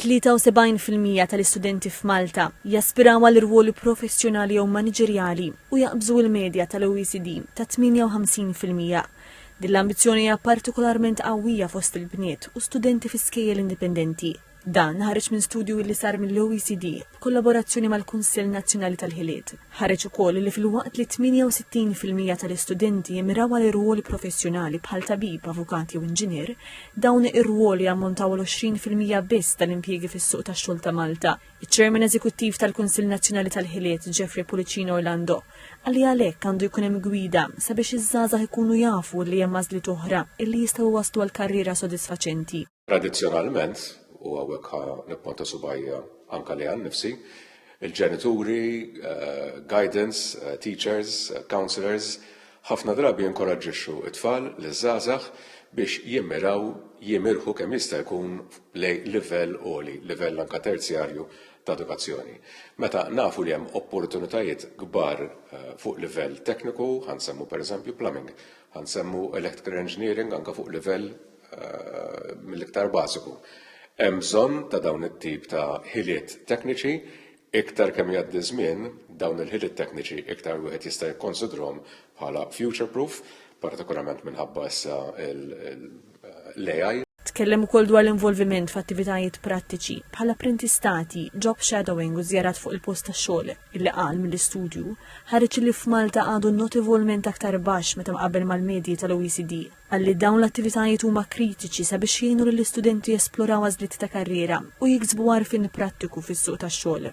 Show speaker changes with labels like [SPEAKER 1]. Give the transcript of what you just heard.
[SPEAKER 1] 73 fil-mija tal-istudenti f'Malta jaspiraw għal rwoli professjonali jew maniġerjali u jaqbżu il-medja tal-OECD ta' 58 fil-mija. Din l-ambizzjoni hija partikolarment qawwija fost il-bniet u studenti fi skejjel indipendenti. Dan ħareġ minn studju li sar mill-OECD b'kollaborazzjoni mal-Kunsill Nazzjonali tal-Ħiliet. Ħareġ ukoll li filwaqt li 68 fil-mija tal-istudenti jimmiraw għal irwoli professjonali bħal tabib, avukat jew inġinier, dawn ir-rwoli jammontaw għal 20 fil-mija biss tal-impjiegi fis-suq tax-xogħol ta' Malta. Iċ-Chairman Eżekuttiv tal-Kunsill Nazzjonali tal-Ħiliet, Jeffrey Pullicino Orlando, qal li għalhekk għandu jkun hemm gwida sabiex iż-żgħażagħ ikunu jafu li hemm għażliet oħra illi jistgħu jwasslu għal karriera sodisfaċenti. Tradizzjonalment,
[SPEAKER 2] u hawnhekk ħa nipponta subajja anke li għal nifsi, il-ġenituri, eh, guidance, eh, teachers, eh, counselors, ħafna drabi jinkoraġġixxu it-tfal li żgħażagħ biex jimmiraw jimirħu kemm jista' jkun lej livell għoli, livell anka terzjarju ta' edukazzjoni. Meta nafu li hemm opportunitajiet kbar eh, fuq livell tekniku, ħansemmu pereżempju plumbing, ħansemmu electrical engineering anka fuq livell mill-iktar bażiku. Hemm bżonn ta' dawn it-tip ta' ħiliet tekniċi, iktar kemm jgħaddi ż-żmien, dawn il-ħiliet tekniċi iktar wieħed jista' jikkonsidrhom bħala future-proof, partikolarment minħabba issa l-AI. Tkellem ukoll dwar
[SPEAKER 1] l-involviment f'attivitajiet prattiċi, bħall-apprentistati, job shadowing u żjarat fuq il-post tax-xogħol, illi qal mill-istudju, ħareġ li f'Malta għadu notevolment aktar baxx meta mqabbel mal-medji tal-OECD. Qal li dawn l-attivitajiet huma kritiċi sabiex jgħinu lill-istudenti jesploraw għażliet ta' karriera u jiksbu għarfien prattiku fis-suq tax-xogħol.